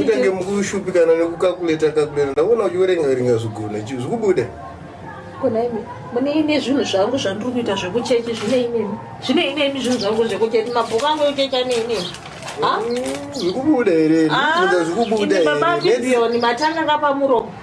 utange mukushupikana nekukakuleta kakuleta ndakuona uchiverenga verenga zvigona chi zvikubuda kona imi mune ine zvinhu zvangu zvandiri kuita zvekuchechi zvine inemi zvine inemi zvinhu zvangu zvekuchechi mabhuku angu ekuchechi ane inemi zvikubuda here zvikubuda here matanga kapamuromo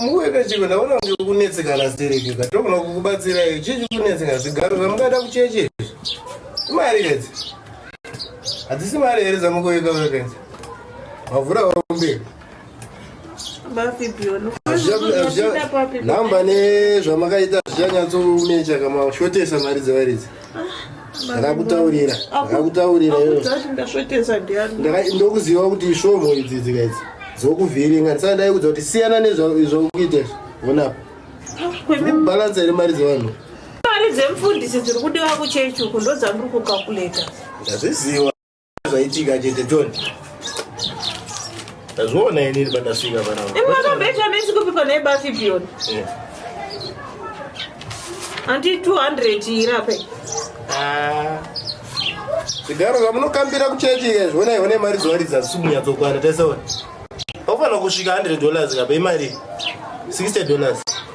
mukuerechiva ndaona kuti kunetsekana stereka togona kukubatsirai chii chikunetsekana zvigaro zvamungaita kucheche izvi imari idzi hadzisi mari here dzamukuika vakenzi mavhura vaomberi namba nezvamakaita zvichanyatsomecha kamashotesa mari dzevaridzi ndakakutaurira ndakakutaurira ndokuziva kuti isvomho idzi dzika idzi dzokuvhiringa ndisana ndaikudza kuti siyana nezvakuita izvo vonapa bhalansa iri mari dzevanhu mari dzemfundisi dziri kudiwa kuchechi uku ndodzandiri kukakuleta ndazviziva zvaitika chete john ndazviona inini pandasvika panaaambechamesikupipa naye bafi bion handi 200 irape zvigaro zvamunokambira kuchechi zvionai one mari dzowaridza simunyatsokwara teseona ofanira kusvika 100 dollars kape imari 60 dollars